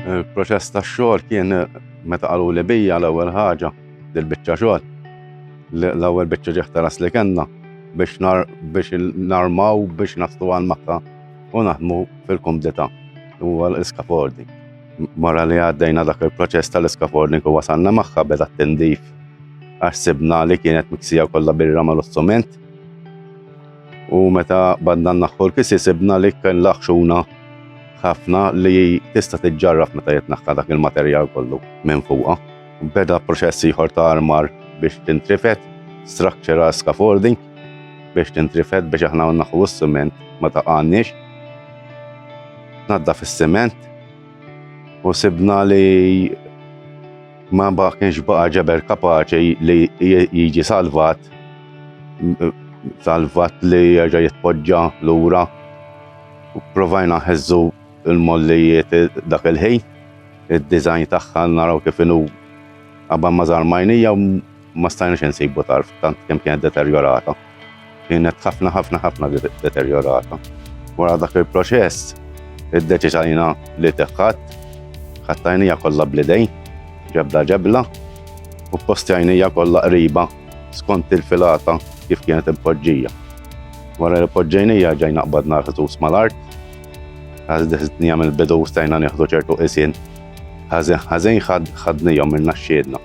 Il-proċess tax-xogħol kien meta qalu li bija l-ewwel ħaġa dil-biċċa xogħol. L-ewwel biċċa ġeħtaras li kellna biex nar biex narmaw biex nastu għal makka u naħdmu fil-kumdita u għal iskafordi. Mara li għaddejna dak il-proċess tal-iskafordi ku wasanna maħħa beda t-tindif għax sibna li kienet miksija kollha birra mal-ossument U meta badna naħħu l-kisi sibna li kien laħxuna ħafna li tista' tiġġarraf meta jitnaħħa dak il-materjal kollu minn fuqha. Beda proċess ieħor ta' armar biex tintrifet, structural scaffolding biex tintrifet biex aħna naħu s-siment ma ta' għannix. Nadda fis-siment u sibna li Ma baħ kienx baqa ġeber kapaċi li jiġi salvat, salvat li jerġa' jitpoġġa lura. Provajna ħeżżu l-mollijiet dak il-ħin, id-dizajn tagħha naraw kif inhu qabel ma żarmajnija ma stajna xi nsibu tarf tant kemm kienet deterjorata. Kienet ħafna ħafna ħafna deterjorata. Wara dak il-proċess, id-deċiżajna li teħħat, ħattajnija kollha blidej, ġebla ġebla, u postjajnija kollha qriba skont il-filata kif kienet impoġġija. Wara li poġġejnija ġejna qbadna ħsus mal-art, għazdni għamil bidu stajna nieħdu ċertu isin, ħażin ħażin ħadnijom minna xxiedna.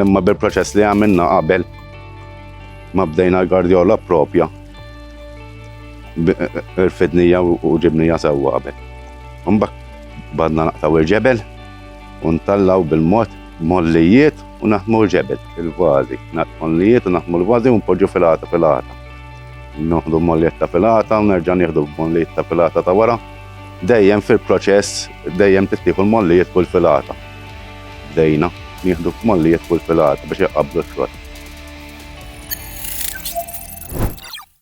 Imma bil-proċess li għamilna qabel ma bdejna l-gardjola propja irfidnija u ġibnija sewwa qabel. Mbak badna naqtaw il-ġebel u ntallaw bil-mod mollijiet u naħmu l-ġebel, il-vazi, mollijiet u naħmu l-vazi u npoġġu filata filata. Noħdu mollijiet ta' filata u nerġa' nieħdu mollijiet ta' filata ta' wara. Dejjem fil-proċess, dejjem tittieħu l-mollijiet kull filata. Bdejna nieħdu f'mollijiet fuq il-filata biex iqabblu l-frott.